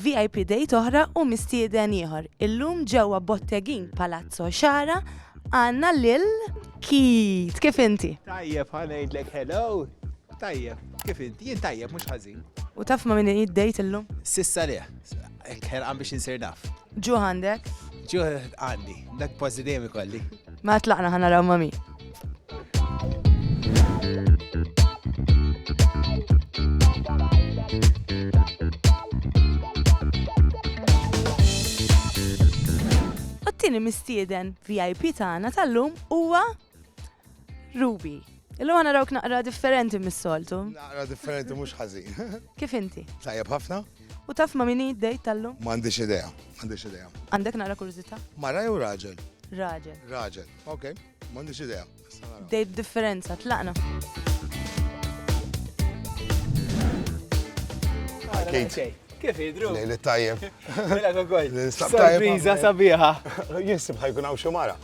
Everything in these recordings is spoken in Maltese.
Vip Date oħra u mistieden ieħor. Illum ġewwa Bottegin Palazzo Xara għandna lil Kit. Kif inti? Tajjeb ħanejdlek hello. Tajjeb, kif inti? Jien tajjeb mhux ħażin. U taf ma' min id-dejt illum? Sissa le. Hekk ħerqan biex insir naf. Ġuħ għandek? Ġuħ għandi, dak pozzi dejjem ikolli. Ma tlaqna ħana raw ma' min. it-tieni mistieden VIP tagħna tal-lum huwa Ruby, illum għana rawk naqra differenti mis-soltu. Naqra differenti mhux ħażin. Kif inti? Tajjeb ħafna. U taf ma' minni id-dejt tal-lum? M'għandix idea, m'għandix idea. Għandek naqra kurzita? Mara jew raġel? Raġel. Raġel, ok, m'għandix idea. Dejt differenza, tlaqna. Kate. Kif jidru? Lejli tajjeb. Mela kogoj. Nistab tajjeb. Sorpriza sabiħa. Jinsib ħajkun hawn xi mara.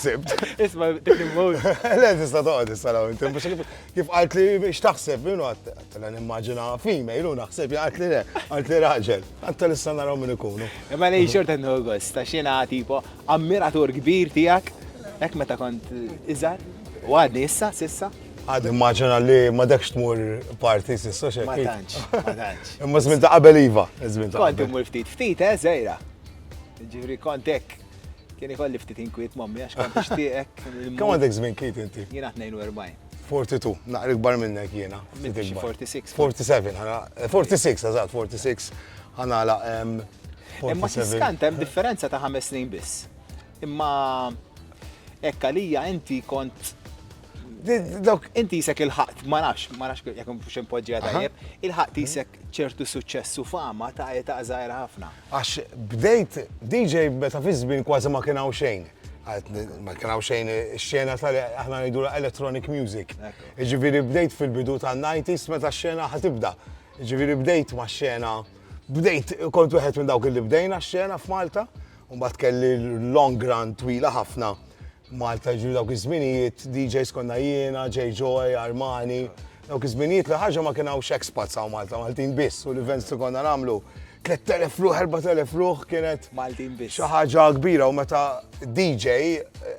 Sibt. Isma' dik il-mod. Le tista' toqgħod issa law inti biex kif qalt li x'taħseb minnu għad nimmaġina female u naħseb jaqgħet li le, qalt li raġel. Għanta lissa naraw min ikunu. Imma lejn xorta n-August, ta' xina tipo ammiratur kbir tiegħek, hekk meta kont iżgħar, u għadni issa, sissa. Għad immaġina li ma dekx tmur parti sissa xejn. Ma tantx, ma tantx. Imma żmien ta' qabel iva, żmien ta' qabel. Kont imur ftit ftit, eh, żejra. Ġifri kont hekk. Kien ikolli ftit inkwiet mommi għax kont nixtieqek. Kemm għandek żmien kiet inti? Jiena 42. 42, naqra ikbar minnek jiena. 46. 47, 46, eżatt, 46. Ħanala. Imma tiskant hemm differenza ta' ħames snin biss. Imma hekk għalija inti kont Dawk inti jisek il-ħaqt, ma nafx, ma nafx jekk mhux impoġġija tajjeb, il-ħaqt jisek ċertu suċċess u fama ta' età żgħira ħafna. Għax bdejt DJ meta fi żmien kważi ma kien hawn xejn. Ma kien hawn xejn ix-xena tal aħna ngħidu electronic music. Ġifieri bdejt fil-bidu tan-90s meta x-xena ħatibda. Ġifieri bdejt ma' xena bdejt kont wieħed minn dawk li bdejna x-xena f'Malta U mbagħad kelli long run twila ħafna Malta, ġifieri dawk iż-żminijiet DJs konna jiena, Jay Joy, Armani. Dawk iż-żminijiet li ħaġa ma kien hawnx expats hawn Malta, Maltin biss u l-events li konna nagħmlu 3000 ruħ, 4000 ruħ kienet Maltin biss. Xi ħaġa kbira u meta DJ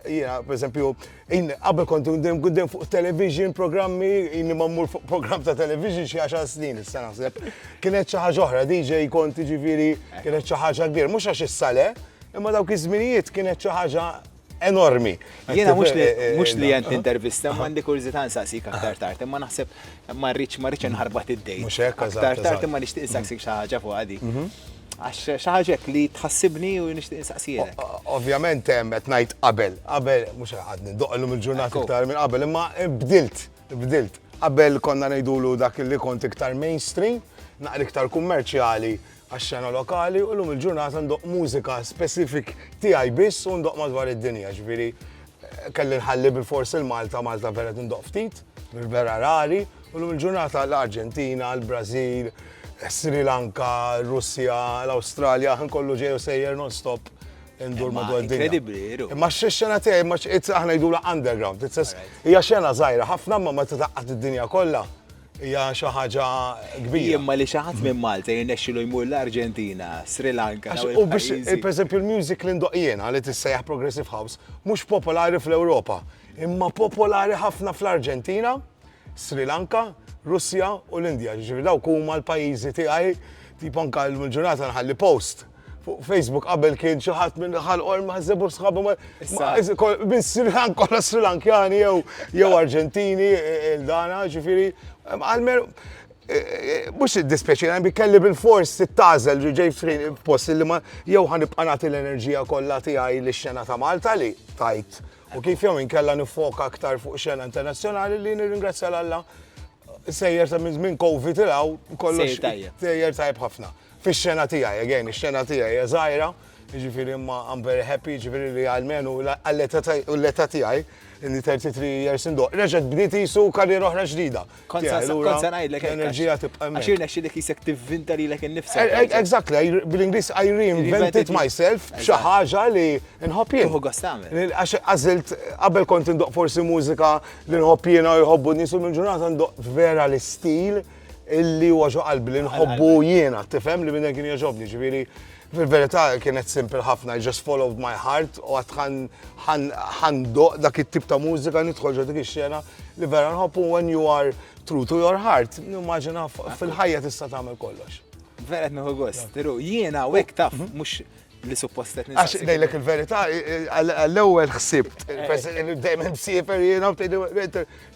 jiena pereżempju Jien qabel kont dejjem kont dejjem fuq television, programmi, inni ma mmur fuq programm ta' television xi għaxar snin issa naħseb. Kienet xi ħaġa oħra, DJ kont jiġifieri kienet xi ħaġa kbir, mhux għax issa le, imma dawk iż-żminijiet kienet xi ħaġa enormi. Jiena mhux li qed nintervista, ma għandi kurżità nsaqsik aktar tard, imma naħseb Ma rridx ma rridx inħarbat id-dejn. Mhux hekk Aktar tard imma nixtieq insaqsik mhm. xi ħaġa fuq għadi. Mhm. Għax xi ħaġa li tħassibni u nixtieq insaqsijek. Ovvjament hemm qed ngħid qabel, qabel mhux qed nindoq illum il-ġurnata iktar minn qabel, imma bdilt, bdilt. Qabel konna ngħidulu dak li kont iktar mainstream, naqri iktar kummerċjali, għax-xena lokali u llum il-ġurnata ndoqq mużika specific tiegħi biss u ndoqq madwar id-dinja, ġifieri kelli nħalli bilfors il-Malta, Malta vera qed indoqq ftit, vera rari, u llum il-ġurnata l-Arġentina, l-Brażil, Sri Lanka, Russja, l-Awstralja, ħin kollu ġej u sejjer non-stop indur madwar id-dinja. Kredibbli, veru. Imma x-xena tiegħi, imma aħna ngħidulha underground, hija xena żgħira ħafna imma meta tgħaqqad id-dinja kollha, hija xi ħaġa kbira. Jien ma li xi ħadd minn Malta jirnexxilu jmur l-Arġentina, Sri Lanka. U biex, pereżempju, l-music li ndoq jiena li tissejjaħ Progressive House mhux popolari fl-Ewropa, imma popolari ħafna fl-Arġentina, Sri Lanka, Russja u l-Indja. Ġifieri dawk huma l-pajjiżi tiegħi, tipo anke llum il-ġurnata nħalli post fuq Facebook qabel kien xi ħadd minn ħal or ma' żebur sħabu ma' minn Sri Lanka kollha Sri Lankjani jew jew Arġentini e, e, dana ġifieri għalmer e, mux id-dispeċi, għan bi kelli bil-fors t-tazel ġej post li ma jew għan ibqanati l-enerġija kollha tiegħi li xena ta' Malta li tajt. U kif jew inkella nifoka aktar fuq xena internazzjonali li nirringrazzja l-Alla sejjer ta' minn Covid ilaw kollox sejjer tajb ħafna. Fix-xena tiegħi, again, ix-xena tiegħi hija żgħira, jiġifieri imma I'm very happy, jiġifieri li almenu għall-età tiegħi, li 33 years in doq, reġgħet bdiet qisu karriera oħra ġdida. Kont se ngħidlek l-enerġija tibqa' hemmhekk. Għax irnexxielek isek tivvinta lilek innifsek. Exactly, bl-Ingliż I reinvented myself b'xi ħaġa li nħobb jien. Tuħu gost tagħmel. Għax għażilt qabel kont indoq forsi mużika li nħobb jiena u jħobbu n-nies u mill-ġurnata ndoq vera l-istil. Illi huwa ġo qalbi li nħobbu jiena, tifhem li minn kien jogħġobni, ġifieri fil-verità kienet simple ħafna, I just followed my heart u għad ħandoq dak it-tip ta' mużika nidħol ġo dik ix-xena li vera nħobbu when you are true to your heart, nimmaġina fil-ħajja tista' tagħmel kollox. Vera qed nieħu gost, jiena u hekk taf mhux li suppost qed Għax ngħidlek il-verità, għall-ewwel ħsibt, dejjem msiefer jiena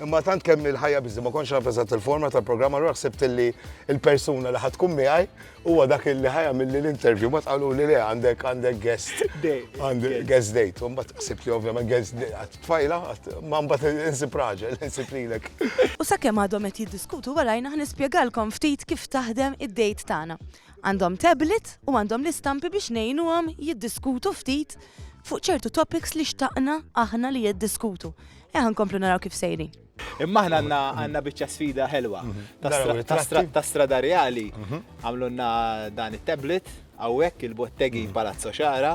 imma tant kemm il-ħajja biżi ma kontx naf eżatt il-forma tal-programm allura ħsibt li l-persuna li ħadd tkun miegħi huwa dak li ħajja milli l-interview ma tqalu li le għandek għandek guest għandek guest date. U mbagħad ħsibt li ovvjament guest date tfajla ma mbagħad insib raġel insib lilek. U sakemm għadhom qed jiddiskutu warajna ħnispjegalkom ftit kif taħdem id-date tagħna. Għandhom tablet u għandhom l-istampi biex ngħinuhom jiddiskutu ftit fuq ċertu topics li xtaqna aħna li jiddiskutu. Eħa nkomplu naraw kif sejrin. Imma aħna għandna għandna biċċa sfida ħelwa mhm. ta' stra- ta' strada reali mhm. għamlunna dan it-tablet hawnhekk il-bottegi mhm. Palazzo Xara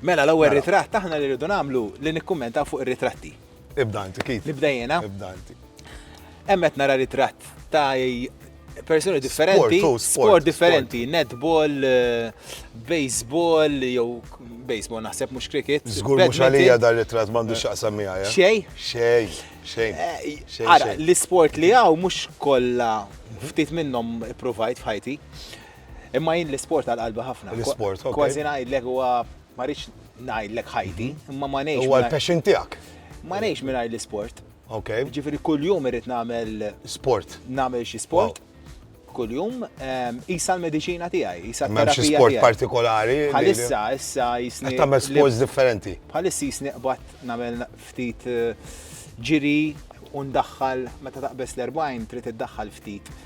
Mela l-ewwel Mela. ritratt aħna li rridu nagħmlu li nikkummentaw fuq ir-ritratti. Ibda inti kif? Nibda jiena. Ibda inti. Hemm qed nara ritratt ta' persuni differenti, Sport, oh, sport, sport differenti, netball, eh, baseball, jew baseball naħseb mhux cricket. Żgur mhux badminton. għalija dar ritratt m'għandu x'aqsam miegħi. eh? Xejn, Xejn, xejn. Eh, Xejn, Ara, xejn. l-isport li għaw mux kolla ftit minnom provajt fħajti. Imma jien l-isport għal qalbi ħafna. L-isport, ok. Kważi ngħidlek huwa ma rridx ngħidlek ħajti, mhm. imma ma ngħix. Huwa l-passion tiegħek. Ma ngħix mingħajr l-isport. Ok. Ġifieri kuljum irid nagħmel sport. Nagħmel xi sport. Kuljum ehm, isa l-mediċina tiegħi, isa l-terapija. Xi sport partikolari. Bħalissa issa jisni. Tagħmel sports differenti. Bħalissa jisni qbad nagħmel ftit eh, ġiri u ndaħħal meta taqbes l-40 trid iddaħħal ftit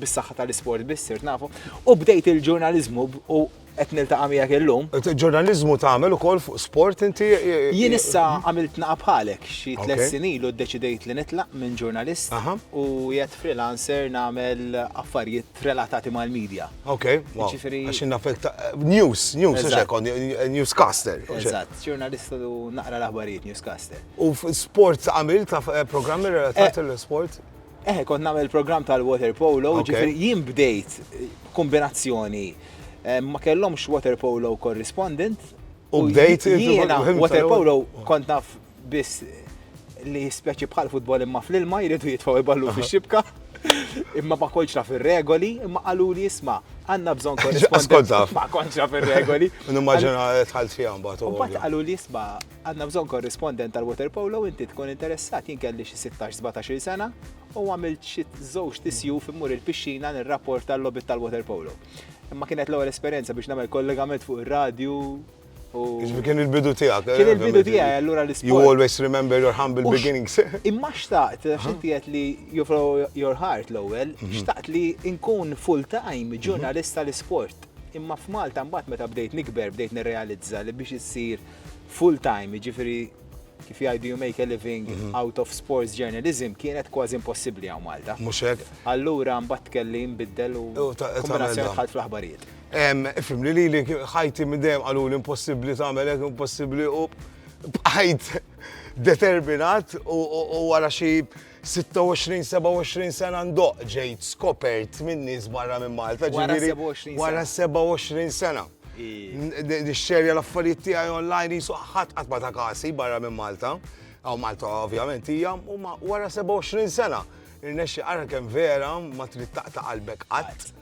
bis-saħħa tal-isport biss sirt nafu, u bdejt il-ġurnaliżmu u qed niltaqa' miegħek illum. Ġurnaliżmu tagħmel ukoll fuq sport inti? Jien issa għamilt naqa' bħalek xi tliet snin ilu ddeċidejt li nitlaq minn ġurnalist u jgħid freelancer nagħmel affarijiet relatati mal-medja. Ok, għax nafek news, news, newscaster. Eżatt, ġurnalist u naqra l-aħbarijiet newscaster. U sport għamilt eh, programmi relatati eh, l-sport? Eħe, kont nagħmel programm tal-water polo, ġifieri jien bdejt kombinazzjoni. Ma kellhomx water polo correspondent. U bdejt jiena water polo kont naf biss li speċi bħal futbol imma fl-ilma jridu jitfaw iballu fi xibka. Imma ma konċ naf ir-regoli, imma qalu li jisma' għandna bżonn korrespondent. Ma konċ naf ir-regoli. Nimmaġina tħalt fiha mbagħad. Mbagħad qalu li jisma' Għandna bżonn korrispondent tal-waterpolo inti tkun interessat jien kelli xi 16-17 sena u għamilt xi żewġ tisjuf immur il-pixxina nirrapport tal-lobit tal-waterpolo. Imma kienet l-ewwel esperjenza biex nagħmel kollegament fuq ir-radju Ġifi kien il-bidu tijak. Kien il-bidu tijak, allura l isport You always remember your humble beginnings. Imma xtaqt, xinti għet li you follow your heart l-ewel, mhm. xtaqt li nkun full-time ġurnalista mhm. l-isport. Imma f'Malta mbagħad meta bdejt nikber, bdejt nirrealizza li biex issir full time, jiġifieri kif jgħidu you make a living mhm. out of sports journalism kienet kważi impossibbli għaw Malta. Mhux hekk. Allura mbagħad kelli nbiddel u kombinazzjoni dħalt fl-aħbarijiet. Ifhem li lili ħajti minn dejjem qalu l-impossibbli tagħmel hekk impossibbli u bqajt determinat u wara xi 26, 27 sena ndoq ġejt skopert minn nies barra minn Malta. Wara 27 Wara 27 sena. Nixxerja l-affarijiet tiegħi online jisu ħadd qatt ma ta' kasi barra minn Malta. Aw Malta ovvjament hija u wara 27 sena. Irnexxi ara kemm vera ma trid taqta' qalbek qatt.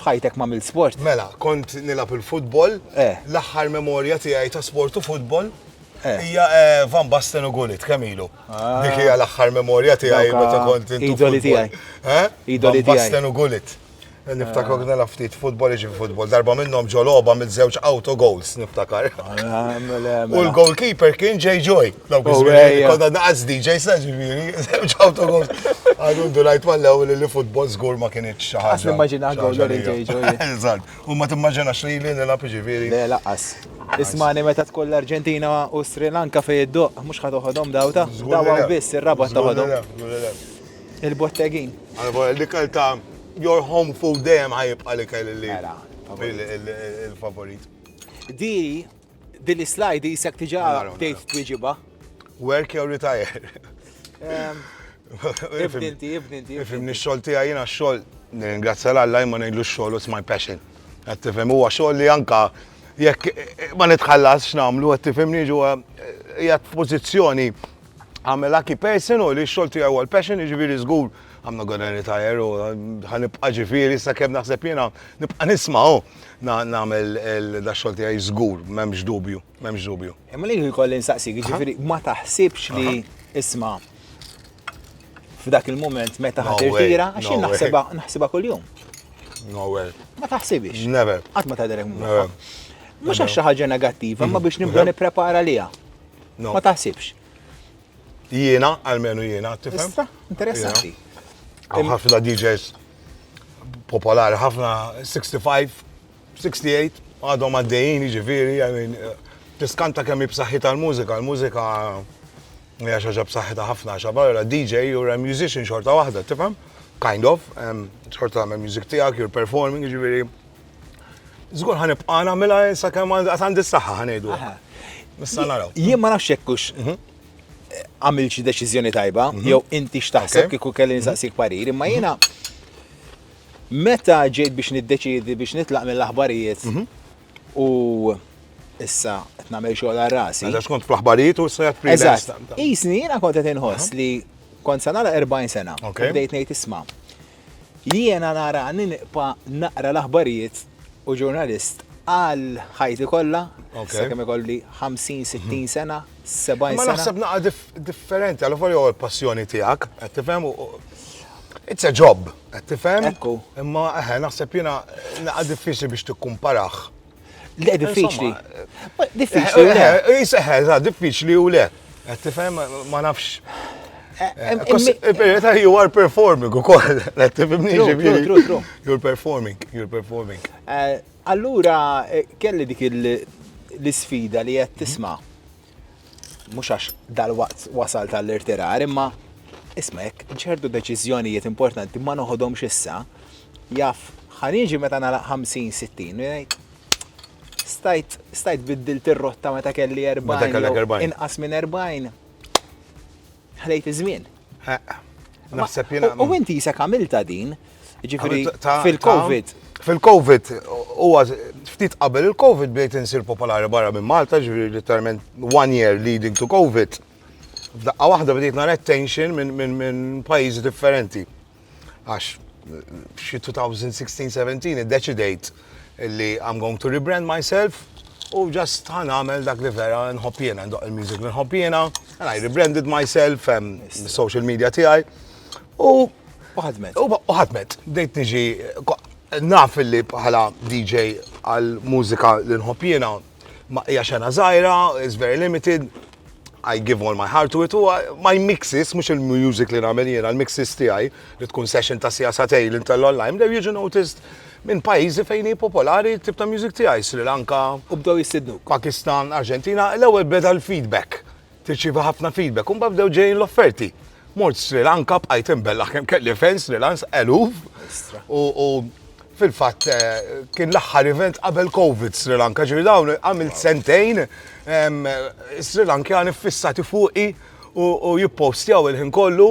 F'ħajtek m'għamilt sport? Mela, kont nilgħab il-futbol. L-aħħar memorja tiegħi ta' sport u futbol hija Van Basten u Gullit, kemm ilu? Dik hija l-aħħar memorja tiegħi meta kont intu. Idoli tiegħi. Idoli tiegħi. Van Basten u Gullit. Niftakar kien nilgħab ftit futbol, iġi futbol. Darba minnhom ġo logħba mill-żewġ auto goals, niftakar. U l-goalkeeper kien Jay Joy. Dawk iż-żmien konna naqas DJ sa ġifieri, żewġ autobus. Għadu ndunajt mal-ewwel li futbol żgur ma kienx xi ħaġa. Nimmaġina għaw DJ ġoji. Eżatt, u ma timmaġinax li li nilgħab ġifieri. Le laqas. Ismani meta tkun l-Arġentina u Sri Lanka fej id-doq, mhux ħad toħodhom dawta. Dawa biss ir-rabat toħodhom. Il-bottegin. Għalba li kelta your home food dejjem ħajibqa' li kelli li. Mela, il-favorit. Di Din is-slide jisek diġà bdejt twieġibha. Work jew retire? Ibni inti, ibni inti. Ifimni x-xogħol tiegħi jiena x-xogħol nirringrazzja l Alla imma ngħidlu x-xogħol it's my passion. Qed tifhem huwa xogħol li anka jekk ma nitħallas x'nagħmlu qed tifhimni ġewwa hija f'pożizzjoni għamela ki person u li x-xogħol tiegħi huwa l-passion jiġifieri żgur għamna għodan retire u ħanibqa' ġifieri sakemm naħseb jiena nibqa' nisma' nagħmel dax-xogħol tiegħi żgur, m'hemmx dubju, m'hemmx dubju. Imma li jkolli nsaqsik, jiġifieri ma taħsibx li isma' f'dak il-mument meta ħadd irtira, għax naħsibha naħsibha kuljum. No way. Ma taħsibix. Never. Qatt ma tagħdelek mura. Mhux għax xi ħaġa negattiva, ma biex nibda nipprepara liha. Ma taħsibx. Jiena, almenu jiena, tifhem? Issa, interessanti. Għaw ħafna DJs popolari, ħafna 65, 68, għadhom għaddejjin, ġifiri, għamin, tiskanta kemm b'saħħi tal-mużika, l-mużika hija xaġa b'saħħitha ħafna, xabarra DJ u musician xorta waħda, tifhem? Kind of, xorta għamel music tiegħek, you're performing, ġifiri, Zgur ħan ibqa' nagħmilha sakemm għad għandi s-saħħa ħan ngħidu. Issa naraw. Jien ma nafx hekk mhm. għamil xi deċiżjoni tajba, mhm. jew inti x'taħseb kieku kelli mhm. nsaqsik parir, imma jiena meta ġejt biex niddeċidi biex nitlaq mill-aħbarijiet u issa qed nagħmel xogħol għal rasi. Għax mela, kont fl-aħbarijiet u issa qed Eżatt. Isni jiena kont qed inħoss li kont sa nara 40 sena. Bdejt ngħid isma' Jiena narani niqpa' naqra l-aħbarijiet u ġurnalist għal ħajti kollha, sakemm ikolli 50, 60 sena, 70 sena. Imma naħseb naqra differenti, alavolja huwa l-passjoni tiegħek, qed tifhem? It's a job, qed tifhem? Ekku. Imma eħe, naħseb jiena naqra diffiċli biex tikkumparah. Le, diffiċli. Diffiċli. Seħħa, diffiċli u le. Tifhem, ma nafx. Il-verità you are performing u koll. Tifhimni ġibiri. You're performing, you're performing. Allura, kelli dik l-sfida li qed tisma' mhux għax dalwaqt wasalt għall-irtirar, imma isma' jekk ċertu deċiżjonijiet importanti ma noħodhomx issa, jaf ħaniġi meta nagħlaq 50-60 u jgħid stajt stajt biddilt ir-rotta meta kelli 40 inqas minn 40. Ħlejt iż-żmien. Naħseb jien. U inti jisek għamilta din, ġifiri fil-Covid. Fil-Covid, huwa ftit qabel il-Covid bdejt insir popolari barra minn Malta, ġifiri literalment one year leading to Covid. F'daqqa waħda bdejt nara attention minn pajjiżi differenti. Għax f'xi 2016-17 iddeċidejt li I'm going to rebrand myself u just ħan għamel dak li vera nħobb jiena, ndoq il-music li nħobb jiena, and I rebranded myself, social media tiegħi. U ħadmet. U ħadmet. Bdejt niġi naf li bħala DJ għal mużika li nħobb jiena Ma hija xena żgħira, it's very limited, I give all my heart to it, u my mixes, mux il-music li namel jena, l-mixes tijaj, li tkun session ta' sija sa' tej, l-intello l-lajm, dew jiġu noticed minn pajizi fejni popolari tip ta' music tijaj, Sri Lanka, u bdew jistidnu, Pakistan, Argentina, l-ewel beda l-feedback. Tirċievi ħafna feedback u mbagħad bdew ġejjin l-offerti. Mort Sri Lanka bqajt imbellaħ kemm kelli fejn Sri Lanka eluf. U fil-fatt eh, kien l-aħħar event qabel Covid Sri Lanka, ġifieri dawn għamilt sentejn Sri Lankjani fissati fuqi u jippostjaw il-ħin kollu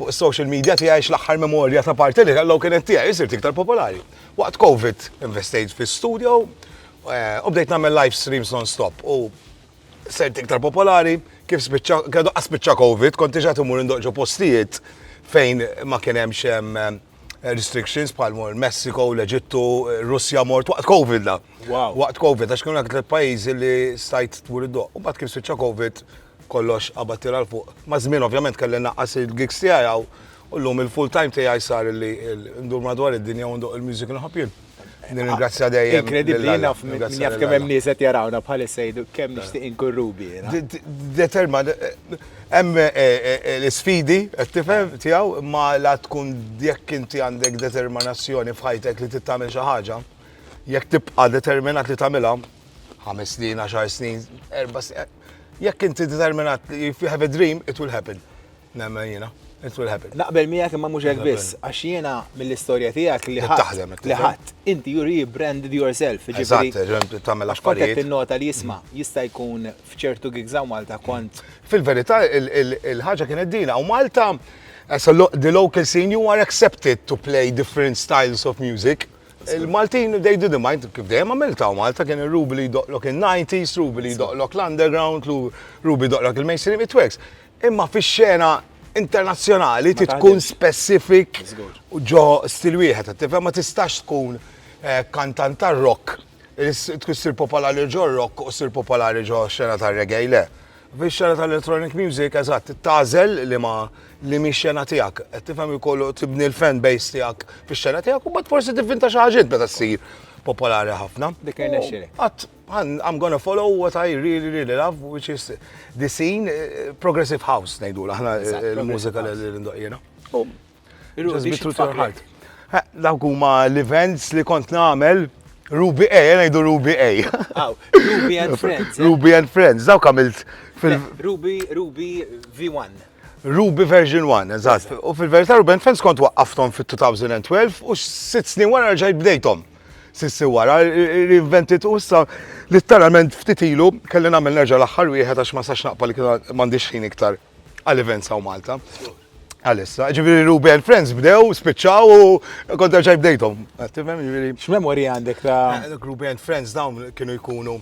fuq social media tiegħi l-aħħar memorja ta' parti li kellhom kienet tiegħi jisir iktar popolari. Waqt Covid investejt fi studio eh, u bdejt nagħmel live streams non-stop u Sirt iktar popolari, kif spiċċa, kredu qas spiċċa Covid, kont iġa timur indoq ġo postijiet fejn ma kien hemmx hemm eh, restrictions bħal mor Messiko, l-Eġittu, Russja mort waqt Covid la. Wow. Waqt Covid, għax kienu dak il-pajjiżi li stajt tmur id-doq. U mbagħad kif spiċċa Covid, kollox qabad tira l-fuq. Ma żmien ovvjament kelli naqqas il-gigs tiegħi u llum il-full time tiegħi sar li ndur madwar id-dinja u ndoq il-music nħobb jien. Nirringrazzja dejjem. Inkredibbli naf min jaf kemm hemm nies qed jarawna bħalissa jgħidu kemm nixtieq inkun Ruby. Determa hemm eh, eh, eh, l-isfidi qed tifhem tiegħu ma la tkun jekk inti għandek determinazzjoni f'ħajtek li tittamel xi ħaġa, jekk tibqa' determinat li tagħmilha ħames snin, għaxar snin, erba' snin, jekk inti determinat if you have a dream, it will happen. Nemmen jiena. It will happen. Naqbel miegħek imma mhux hekk biss, għax jiena mill-istorja tiegħek li ħadd li ħadd. Inti you rebranded yourself. Eżatt, tagħmel affarijiet. Kont qed tinnota li jisma' jista' jkun f'ċertu gigs hawn Malta kont. Fil-verità il-ħaġa kienet din hawn Malta the local scene you are accepted to play different styles of music. Il-Maltin they didn't mind kif dejjem għamilt hawn Malta kien ir-rubi li jdoqlok in-90s, rubi li jdoqlok l-underground, rubi jdoqlok il-mainstream, it works. Imma fix-xena internazzjonali trid tkun specific ġo stil wieħed, tifhem ma tistax tkun eh, kantant tar-rock tkun sir popolari ġo rock u sir popolari ġo xena tar-reggae le. Fix-xena tal-electronic music, eżatt, tażel li ma li mi xena tiegħek. Qed tifhem jkollu tibni l-fan base tiegħek fix-xena tiegħek u bad forsi tivvinta xi ħaġiet meta ssir popolari ħafna. Dik I'm gonna follow what I really really love which is the scene progressive house ngħidula aħna l-mużika li ndoq jiena. Dawk huma l-events li kont nagħmel Ruby A, jena jdu Ruby A. Ruby and Friends. Eh? Ruby and Friends, dawk għamilt fil- Ruby, Ruby V1. Ruby version 1, eżatt. U fil-verità Ruben Fence kont waqqaftom fit-2012 u sitt snin wara ġajt bdejtom. Sissi wara, reinvented u issa litteralment ftit ilu kelli nagħmel nerġa' l-aħħar wieħed għax ma sax naqpa li m'għandix ħin iktar għal events hawn Malta. Għalissa, ġifieri Ruby and Friends bdew, spiċċaw u kont ġaj bdejthom. Tifhem ġifieri. X'memorji għandek ta' Ruby and Friends dawn kienu jkunu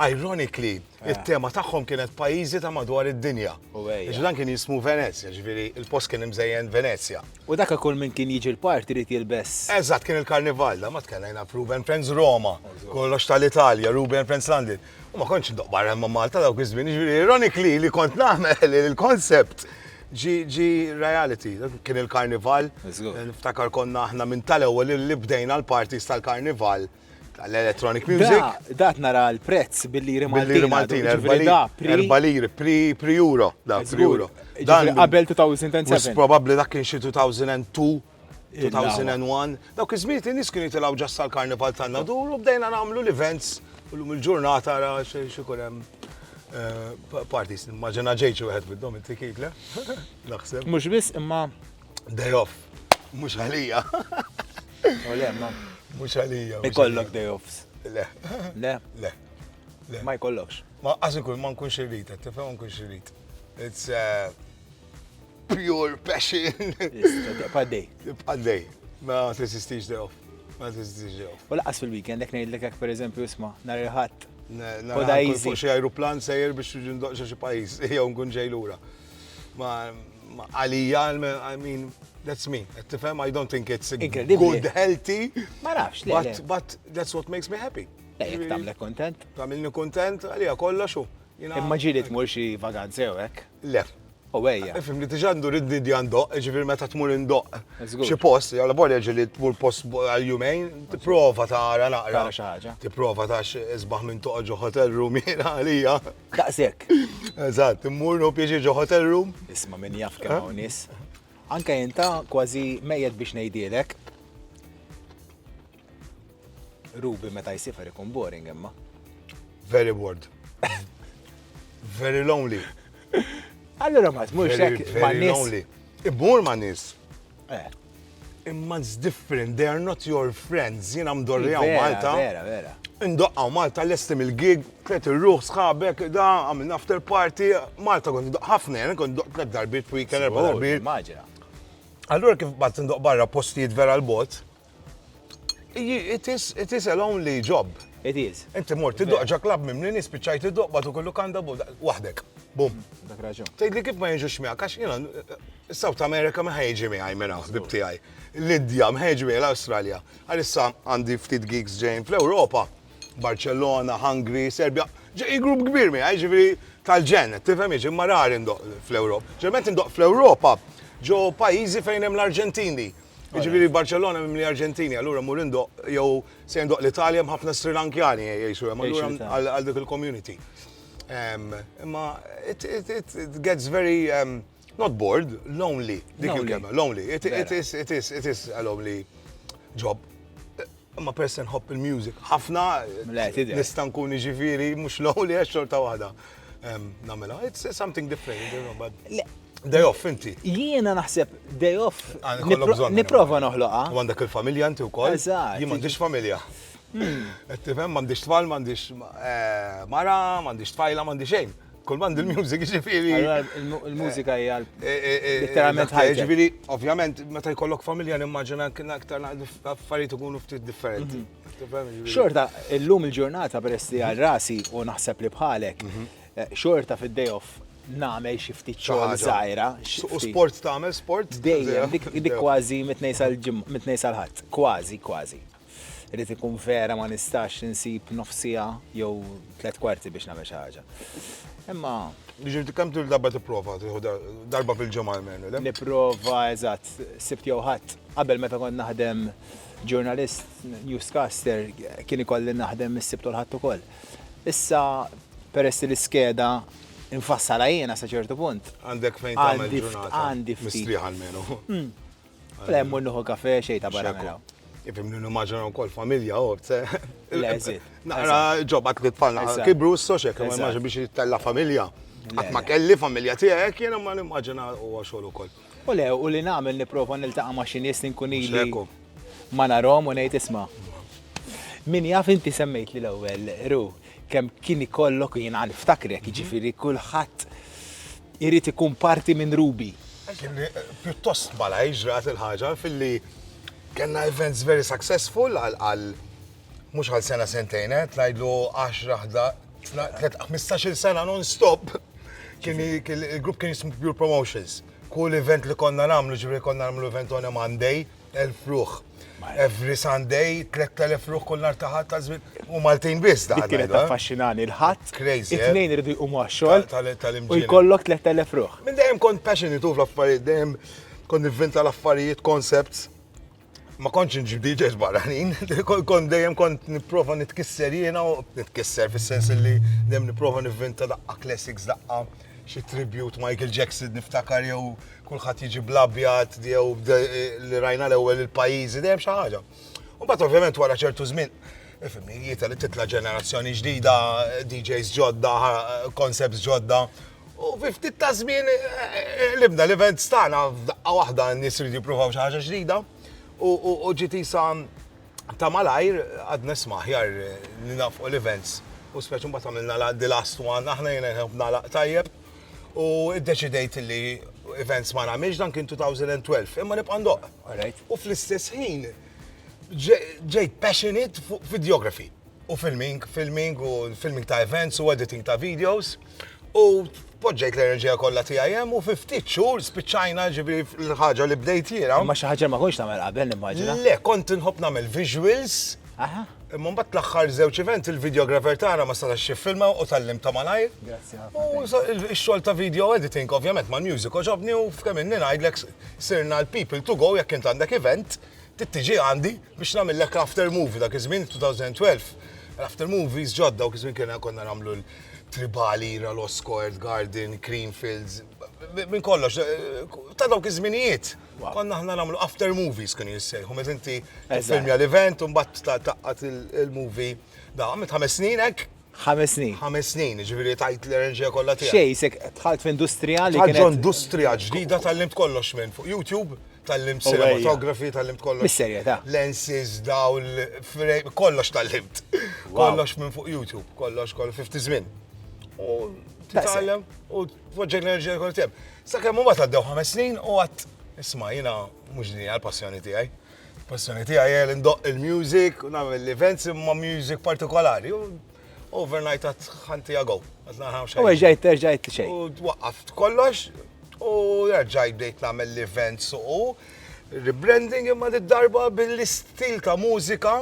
ironically It-tema tagħhom kienet pajjiżi ta' madwar id-dinja. Għax dan kien jismu Venezja, ġifieri il-post kien imżejjen Venezja. U dak kull min kien jiġi l-park irid jilbes. Eżatt, kien il-karnival, da ma tkellejna f'Ruben Friends Roma, kollox tal-Italja, Ruben Friends London. U ma kontx ndoqq barra ma' Malta dawk iż-żmien, ġifieri ironically li kont nagħmel il-concept ġi reality. Kien il-karnival, niftakar konna aħna minn tal-ewwel li bdejna l-parties tal-karnival. L-electronic music. Dat nara l-prezz billi rimaltina. Maltin, erba liri, pri euro. Dan qabel 2007. Probabli dak kien xi 2002. 2001. Dawk iż-żmiet in-nies kienu jitilgħu ġassa l-karnival tagħna dur u bdejna nagħmlu l-events u lum il-ġurnata ra xi jkun hemm eh, parties. Immaġina ġejġi wieħed bid-dom inti kikle. Naħseb. Mhux biss imma Day off. Mhux għalija. U le, ma. Mhux għalija. Ikollok day offs. Le. Le. Le. Le. Ma jkollokx. Ma qas ikun ma nkunx irrid, tifhem ma nkunx irrid. It's uh, pure passion. Tibqa' day. Tibqa' day. Ma tesistix day off. Ma tesistix day off. U laqas fil-weekend, jek ngħidlek hekk pereżempju isma' nhar il-ħadd. Fuq xi ajruplan sejjer biex ġindoqxa xi pajjiż jew nkun ġej lura. Ma għalija, I mean, that's me. Tifhem, I don't think it's good, healthy. Ma nafx, but, but that's what makes me happy. Lejk, tamle kontent? Tamilni kontent, għalija kollox u. Imma ġili tmur xi vaganzi u hekk? Le. U għeja. Ifim li tiġan dur id di għandoq, ġifir meta tmur indoq. Xi post, għal borja ġili tmur post għal-jumejn, t-prova ta' għara naqra. Xaħġa. T-prova ta' xizbaħ minn toqġu hotel room għalija. Daqshekk. Eżatt, immur nieħu pjaċir ġo hotel room. Isma' min jaf kemm hawn nies. Anke inta kważi mejjet biex ngħidhielek. Ruby meta jsiefer ikun boring imma. Very bored. Very lonely. Allura ma tmurx hekk ma' nies. Immur ma' nies. Eh. Imma it's different, they are not your friends, jina mdorri għaw Malta. Vera, vera. Indoqqa Malta l-esti mill-gig, tret il-ruħ sħabek, da, għamil after party, Malta kont indoqqa ħafna, jena kont indoqqa tret darbit, weekend, erba darbit. Allura kif bat indoqqa barra postijiet vera l-bot, It is, it is a lonely job. It is. Inti mort tiddoq ġa klabb mimli nies spiċċajt iddoq bad ukoll lukanda waħdek. Bum. Dak raġun. Tgħidli kif ma jiġux miegħek għax jiena South America ma ħejġi miegħi minn hawn ħbib tiegħi. L-Indja ma ħejġi miegħi l-Awstralja. Għalissa għandi ftit gigs ġejn fl-Ewropa. Barcellona, Hungary, Serbia. Ġej grupp kbir miegħi, ġifieri tal-ġen, tifhem jiġi ma rari ndoq fl-Ewropa. Ġerment indoq fl-Ewropa ġo pajjiżi fejn hemm l-Arġentini. Jiġifieri Barcellona mimli Arġentini, allura mur indoq jew se indoq l-Italja hemm ħafna Sri Lankjani jgħixu hemm allura għal dik il-community. Imma it gets very um, not bored, lonely, dik il-kelma, lonely. It is, it is, it is a lonely job. Imma peress li nħobb il-music ħafna, nista' nkun jiġifieri mhux lonely għax xorta waħda nagħmilha. It's something different, you know, but Day off, inti. Jiena naħseb day off. Ah, Niprofa noħloqa. U għandek il-familja inti wkoll. Eżatt. Jien m'għandix familja. Hmm. Qed tifhem m'għandix tfal, m'għandix eh, mara, m'għandix tfajla, m'għandix xejn. Kull mandu l-music ġifiri. Il-mużika hija eh, eh, eh, literalment ħajja. Ġifiri, ovvjament, meta jkollok familja nimmaġina kien aktar affarijiet ikunu ftit differenti. Mhm. Xorta, illum il-ġurnata peress li għal rasi u naħseb li bħalek, mhm. xorta fid-day off nagħmel xi ftit xogħol żgħira. U sport tagħmel sport? Dejjem, dik kważi mitnej sal-ħadd, kważi, kważi. Irid ikun vera ma nistax insib nofs siegħa jew tliet kwarti biex nagħmel xi ħaġa. Imma Jiġifieri kemm tul darba tipprova tieħu darba fil-ġimgħa almenu, le? Nipprova, eżatt, Sibt jew Ħadd. Qabel meta kont naħdem ġurnalist, newscaster, kien ikolli naħdem is-Sibt u l-Ħadd ukoll. Issa peress li l-iskeda nfassalha jiena sa ċertu punt. Għandek fejn tagħmel ġurnata mistrieħa almenu. Le, mmur nuħu kafe xejn ta' barra mela. Ifimni nimmaġina wkoll familja għob, se. Naqra ġobba tliet tfalna kibru s-soċek, ma immaġin biex jittella familja. Qatt ma kelli familja tiegħek, jiena ma nimmaġina huwa xogħol ukoll. U le, u li nagħmel nipprova niltaqa' ma' xi nies li nkun ili ma narhom u ngħid isma'. Min jaf inti semmejtli l-ewwel, Ru, Kemm kien ikollok u jiena niftakrek, jiġifieri kulħadd irid ikun parti minn Ruby. Pjuttost malajr ġrat il-ħaġa filli kellna events very successful għal mhux għal sena sentejn, eh, tnajdlu 10, 15-il sena non-stop kien il-grupp kien jismu Pure Promotions. Kull event li konna nagħmlu ġifieri konna nagħmlu event on a Monday, 1000 ruħ. Every Sunday, 3000 ruħ kull nar taħat ta' żmien. U Maltin biss daħal. Kienet eh? affaxxinani l-ħadd. Crazy. Eh? It-tnejn irridu jqumu għax-xogħol. U jkollok 3000 ruħ. Minn dejjem kont passionate u fl-affarijiet dejjem kont nivvinta l-affarijiet, concepts. Ma kontx nġib DJs barranin, kont dejjem kont nipprova nitkisser jiena u nitkisser fis-sens li dejjem nipprova nivvinta daqqa classics daqqa xi tribute Michael Jackson niftakar jew kulħadd jiġi bl-abjad jew li rajna l-ewwel il-pajjiżi dejjem xi ħaġa. U mbagħad ovvjament wara ċertu żmien Ifimni, jieta li titla ġenerazzjoni ġdida, DJs ġodda, concepts ġodda, U fi ftit ta' żmien eh, eh, libna l-event stana f'daqqa waħda n-nies ridu jippruvaw xi ħaġa ġdida u ġiet isa Ta' malajr għad nisma' aħjar li nagħfqu l-events u speċi mbagħad għamilna la the last one, aħna jiena nħobb nagħlaq tajjeb u iddeċidejt li events ma nagħmilx dan kien 2012 imma nibqa' ndoqq. All right. U fl-istess ħin ġe- ġejt passionate fuq videography. u filming, filming u filming ta' events u editing ta' videos. U poġġejt l-enerġija kollha tiegħi hemm u fi ftit xhur spiċċajna ġibi l-ħaġa li bdejt jiena. Ma xi ħaġa ma konx tagħmel qabel nimmaġina. Le, kont inħobb nagħmel visuals. Aha. Imma mbagħad l-aħħar żewġ event il-videographer tagħna ma setax jiffilma u tallim ta' malajr. Grazzi ħafna. U x-xogħol ta' video editing ovvjament mal-music oġobni u f'kemm inni ngħidlek sirna l-people to go jekk int għandek event tittiġi għandi. Biex nagħmillek after movie dak iż-żmien 2012, after movies ġodda u kizmin kena konna namlu l-Tribali, Ralosco, Earth Garden, Creamfields, minn kollox, ta' dawk iż-żminijiet. Konna ħna namlu after movies kienu jissejħu, meta inti filmja l-event u mbagħad taqqat il-movie da' għamilt ħames snin hekk. Ħames snin. Ħames snin, jiġifieri tajt l-enerġija kollha tiegħek. F'xejn, isek dħalt f'industrija li kienet. Dħalt f'industrija ġdida tgħallimt kollox minn fuq YouTube, tgħallimt cinematography, tgħallimt kollox. Bis-serjetà. Lenses, dawl, frame, kollox tgħallimt. Kollox minn fuq YouTube, kollox kollox fifti żmien. U titgħallem u tpoġġek l-enerġija kollha tiegħek. Sakemm imbagħad għaddew ħames snin u għad isma' jiena mhux din hija l-passjoni tiegħi. Il-passjoni tiegħi hija li ndoqq il-music u nagħmel events imma music partikolari. U overnight għad ħanti għagow. U ġajt, terġajt xejn. U twaqqaft kollox u ġajt bdejt nagħmel l-events u rebranding imma d-darba bil-istil ta' mużika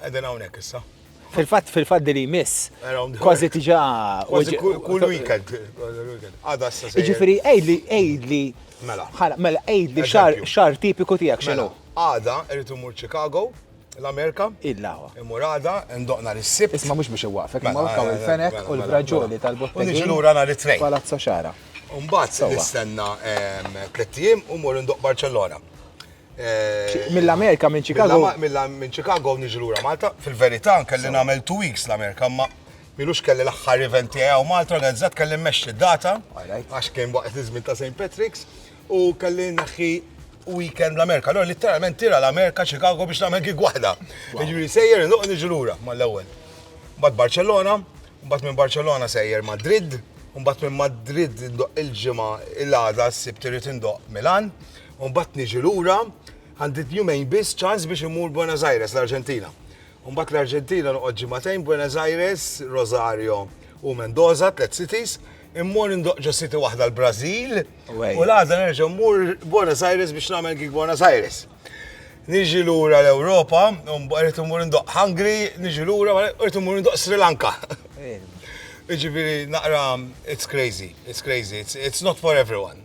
Qegħdin hawnhekk issa. Fil-fatt, fil-fatt li jmiss, kważi tiġa. Kważi kull weekend. Għada s Ġifiri, ejdli, ejdli. Mela. Ħala, mela, ejdli xar tipiku tijak xinu. Mela, għada, irritu mur Chicago, l-Amerika. Illa. Imur għada, ndoqna l-sib. Isma mux biex iwafek, mela, ma kaw il-fenek u l-braġoli tal-bottega. Nġi l-ura nar it-trejn. Palazzo xara. Umbat, nistenna tlettijim u mur ndoq Barcellona. Mill-Amerika, minn Chicago. Minn Chicago niġi lura Malta. Fil-verità, kelli nagħmel two weeks l-Amerika, ma milux kelli l-aħħar event tiegħi hawn Malta, organizzat kelli mmexxi d-data, għax kien waqt iż-żmien ta' St. Patrick's, u kelli naħħi weekend l-Amerika. Allora litteralment tira l-Amerika Chicago biex nagħmel gig waħda. Jiġifieri sejjer indoq niġi lura mal-ewwel. Mbagħad Barcellona, mbagħad minn Barcellona sejjer Madrid, mbagħad minn Madrid indoq il-ġimgħa il-għada s-sibt irid indoq Milan, Mbagħad niġi lura, għandi jumejn biss ċans biex imur Buenos Aires, l-Arġentina. Mbagħad l-Arġentina noqgħod ġimagħtejn Buenos Aires, Rosario u Mendoza, tliet cities, immur indoq ġo city waħda l-Brażil u l-għada nerġa' mmur Buenos Aires biex nagħmel gig Buenos Aires. Niġi lura l-Ewropa, rrid immur indoq Hungary, niġi lura, rrid immur indoq Sri Lanka. Iġifieri naqra it's crazy, it's crazy, it's, it's not for everyone.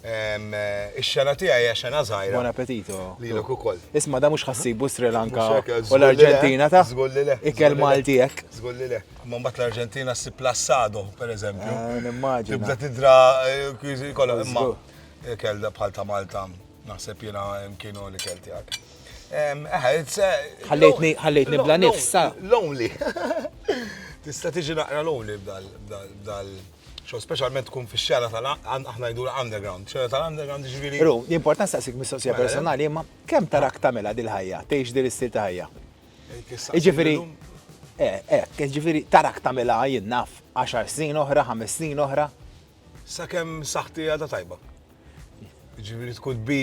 Ix-xena tiegħi hija xena żgħira. Buon appetito. Lilek ukoll. Isma' da mhux ħassibu Sri Lanka u l-Arġentina ta'. Żgur li le. Ikel Malti hekk. Żgur li le. Imma mbagħad l-Arġentina ssib l-assado, pereżempju. Nimmaġina. Tibda tidra kwiżi kollha. Imma ikel bħal ta' Malta naħseb jiena kienu l-ikel tiegħek. Ħallejtni bla nifs. Lonely. Tista' tiġi naqra lonely b'dal. Xogħol speċjalment tkun fix-xena tal aħna ngħidulha underground, xena tal-underground jiġifieri. Ru, jien port nistaqsik mistoqsija personali imma kemm tarak tagħmilha dil-ħajja, tgħix din l-istil ta' ħajja? Jiġifieri, eh, eh, jiġifieri tarak tagħmilha jien naf għaxar snin oħra, ħames snin oħra? Sakemm saħħti għadha tajba. Jiġifieri tkun bi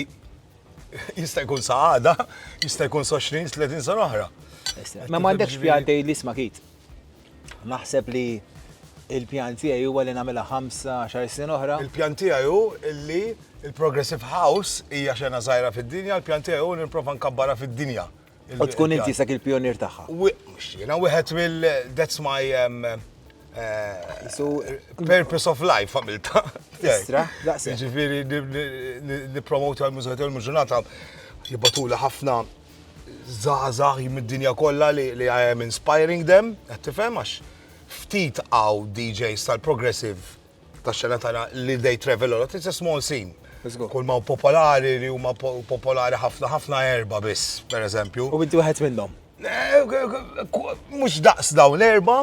jista' jkun sa għada, jista' jkun sa 20, 30 sena oħra. Ma m'għandekx pjan tgħid li sma' kit. Naħseb li il-pjan tiegħi huwa li nagħmilha ħamsa xar snin oħra. Il-pjan tiegħi hu li il-Progressive House hija xena żgħira fid-dinja, il-pjan tiegħi hu li nipprova nkabbarha fid-dinja. U tkun inti sak il-pjonier tagħha. Jiena wieħed mill that's my um, Eh, purpose of life għamilta. Istra, daqsi. Ġifiri, nipromotu għal-mużika tal-ġurnata, jibbatula ħafna żgħażagħ mid-dinja kollha li I am inspiring them, qed tifhem għax ftit għaw DJs tal-progressive tax-xena tagħna li they travel a lot, it's a small scene. Kull ma popolari li huma popolari ħafna ħafna erba biss, per eżempju. U inti wieħed minnhom. Eh, Mux daqs dawn l-erba,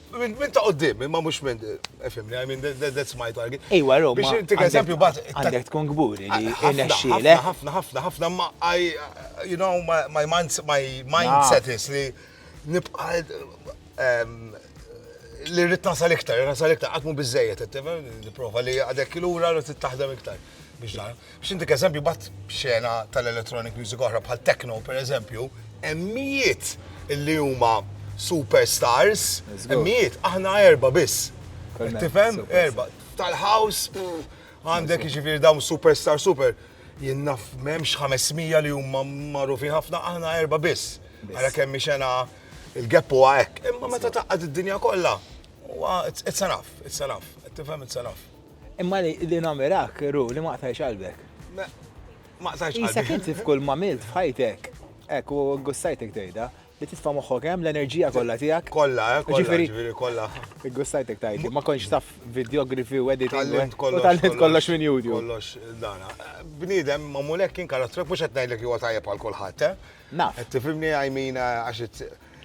Minn ta' qoddim, imma mhux minn, efimni, I mean, that's my target. Iwa, Roma. Biex intik eżempju bat. Għandek tkun kburi li irnexxielek. Ħafna, ħafna, ħafna, ma I, you know, my mindset is li nibqa li rrit nasal iktar, nasal iktar, għatmu bizzejet, niprofa li għadek il-ura rrit taħdem iktar. Biex dan. X'intik eżempju bat xena tal-electronic music oħra bħal techno pereżempju, hemm mijiet li huma superstars, hemm mijiet aħna erba' biss. Tifhem? Erba' tal-house għandek jiġifieri dawn superstar super. Jien naf m'hemmx 500 li huma magħrufin ħafna aħna erba' biss. Ara kemm xena il-gap huwa hekk. Imma meta taqgħad id-dinja kollha, huwa it's enough, it's enough. Tifhem it's enough. Imma li namirak, ru, li maqtajx qalbek. Maqtajx qalbek. Isek inti f'kull mamilt f'ħajtek, ek u gustajtek tejda, li titfa moħħok hemm l-enerġija kollha tiegħek. Kollha, eh, ġifieri kollha. Gustajtek tajdi, ma kontx taf videografi u editing. Tallimt kollox minn YouTube. Kollox dana. Bniedem ma mulek kien karattrek mhux qed ngħidlek huwa tajjeb għal kulħadd, eh? Naf. Tifhimni għajmina għax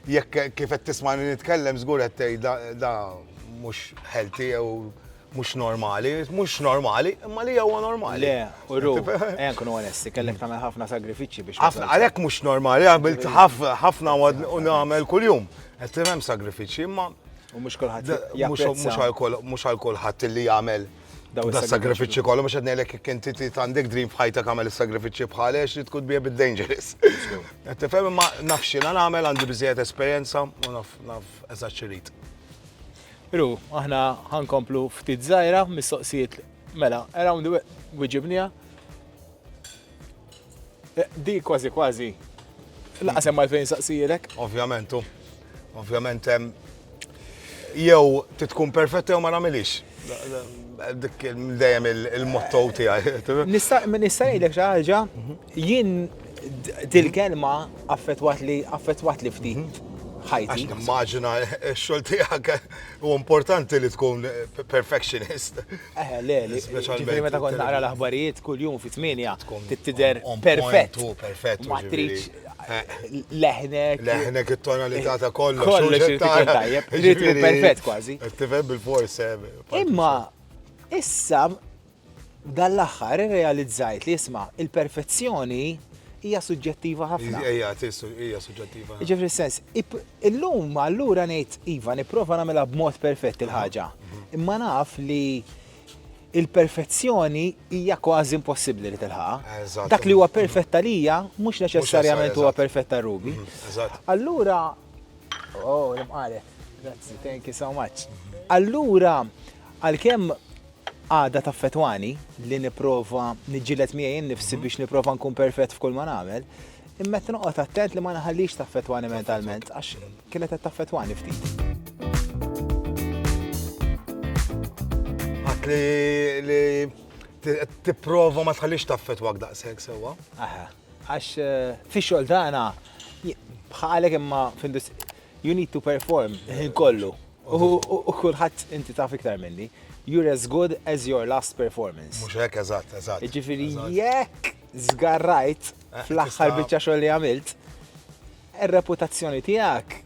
Jekk kif qed tismani nitkellem żgur qed tgħid da mhux healthy jew mhux normali, mhux normali, imma li huwa normali. Le, u ru, ejja nkunu onesti, kellek tagħmel ħafna sagrifiċċji biex. Ħafna għalhekk mhux normali, għamilt ħafna u nagħmel kuljum. Qed hemm sagrifiċċji, imma. U mhux kulħadd. Mhux għal kulħadd li jagħmel daw is-sagrifiċċji kollu mhux qed ngħidlek jekk inti trid għandek dream f'ħajtek għamel is-sagrifiċċji bħal għax li tkun bija bid-dangerous. Qed tifhem imma naf x'jiena nagħmel għandi biżejjed esperjenza u naf naf eżatt x'irid. Ru, aħna ħankomplu ftit żgħira mistoqsijiet mela, around the wiġibnija. Di kważi kważi. Laqas hemm għalfejn saqsijilek. Ovvjament, u. Ovvjament hemm. Jew titkun perfett jew ma nagħmilix. Dik dejjem il-motto tiegħi. Nista' nista' jgħidlek xi ħaġa, jien dil-kelma affettwat li affettwat li ftit mhm. ħajti. Għax nimmaġina x-xogħol tiegħek u importanti li tkun perfectionist. Eħe, le, li ġifieri meta kont naqra l-aħbarijiet kuljum fi tmienja trid tidher perfett. Perfett. Ma tridx leħnek. Leħnek it-tonalità ta' kollox. Kollox irid ikun tajjeb. Irid ikun perfett kważi. Tifhem bil-fors. Imma issa dan l-aħħar irrealizzajt li isma' il-perfezzjoni hija suġġettiva ħafna. Hija hija suġġettiva. Jiġifieri sens, illum allura ngħid iva nipprova nagħmilha b'mod perfett il-ħaġa. Mhm. Imma naf li il-perfezzjoni hija kważi impossibbli li tilħaqha. Dak li huwa perfett għalija mhux neċessarjament huwa perfett għal Ruby. Mhm, allura, oh, l-imqalet. Grazzi, thank you so much. Allura, għal-kem Għada taffettwani li nipprova niġġieled miegħi nnifsi biex nipprova nkun perfett f'kull ma nagħmel, imma qed noqgħod attent li ma nħallix taffettwani mentalment għax kienet qed taffettwani ftit. Għedt li tipprova ma tħallix taffettwak daqshekk sewwa. Aha. Għax fix-xogħol tagħna bħalek imma f'industrija You need to perform il-ħin kollu. U kulħadd inti taf iktar minni. You're as good as your last performance. Mhux hekk, eżatt, eżatt. Jiġifieri jekk żgarrajt eh, fl-aħħar biċċa xogħol li għamilt, ir-reputazzjoni tiegħek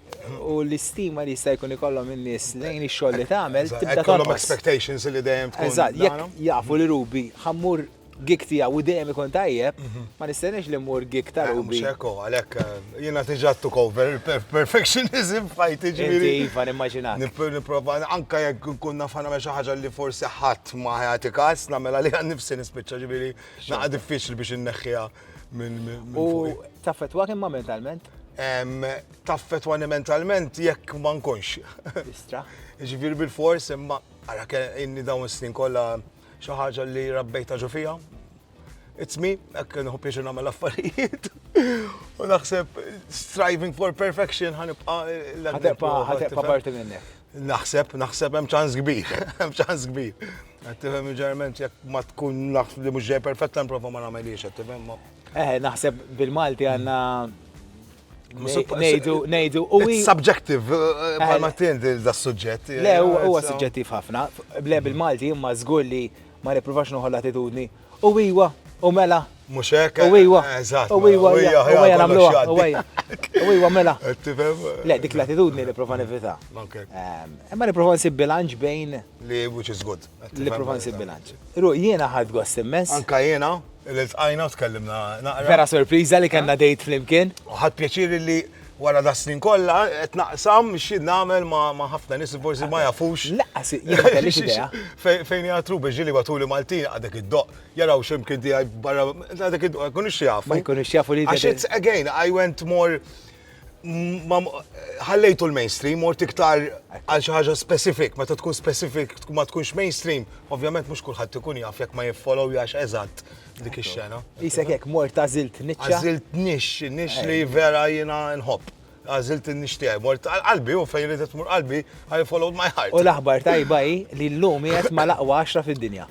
u l-istima li jista' jkun ikollhom in-nies lejn ix-xogħol li tagħmel tibda tonqos. expectations li dejjem tkun. Eżatt, jekk jafu li Rubi ħammur gig tiegħu u dejjem ikun tajjeb, mhm. ma nistennex li mmur gig ta' eh, Ruby. Xeko, għalhekk eh, jiena tiġa took over perfectionism f'ħajti ġifieri. Iva, nimmaġina. Nipprova anke jekk nkun naf nagħmel xi ħaġa li forsi ħadd ma ħati każ nagħmel għaliha nifsi nispiċċa ġifieri naqa' diffiċli biex inneħħiha minn U taffetwa kemm mentalment? Taffetwa mentalment jekk ma nkunx. Istra. Ġifieri bil-fors imma għara inni dawn snin kollha Xi ħaġa li rabbejtha ġo fija. It's me, hekk nħu pieċu nagħmel affarijiet. U naħseb striving for perfection ħanibqa' l-ħadebqa ħadebqa parti minnek. Naħseb, naħseb hemm ċans kbir, hemm ċans kbir. Qed tifhem ġerment jekk ma tkun naf li mhux ġej perfett nipprova ma nagħmelix, qed tifhem. Eh, naħseb bil-Malti għandna Nejdu, nejdu, u. Subjective, eh, eh, ma tindi da suġġett. Eh, le, huwa suġġettiv ħafna. Le bil-Malti imma żgur li ma nippruvax noħol attitudni. U iwa, u mela. Mux hekk. U iwa. Eżatt. U iwa, u iwa, u iwa, namluha. U iwa, u iwa, mela. Le, dik l-attitudni li prova nivita. Ehm, imma li prova nsib bilanċ bejn. Li which is good. Li prova nsib bilanċ. Ru, jiena ħad gost immens. Anka jiena. Iltqajna u tkellimna naqra. Vera sorpriża li kellna dejt flimkien. U ħadt pjaċir li wara da snin kollha qed naqsam xi nagħmel ma' ħafna nies forsi ma jafux. Laqqas kellix idea. Fejn hija True Beach ġieli batuli Maltin għadek iddoqq jaraw x'imkien tiegħi barra għadek iddoqq ma jkunux jafu. Ma jkunux jafu li. Għax it's again I went more ħallejtu l-mainstream, mort iktar għal xi ħaġa specific, meta tkun specific ma tkunx mainstream, ovvjament mhux kulħadd ikun jaf jekk ma jiffollow jax eżatt dik ix-xena. Isek hekk mort għażilt niċċa. Għażilt nix, nix li vera jiena nħobb. Għażilt nix tiegħi, mort qalbi u fejn ridit mur qalbi, I followed my heart. U l-aħbar tajba hi li llum qiegħed mal-aqwa 10 fid-dinja.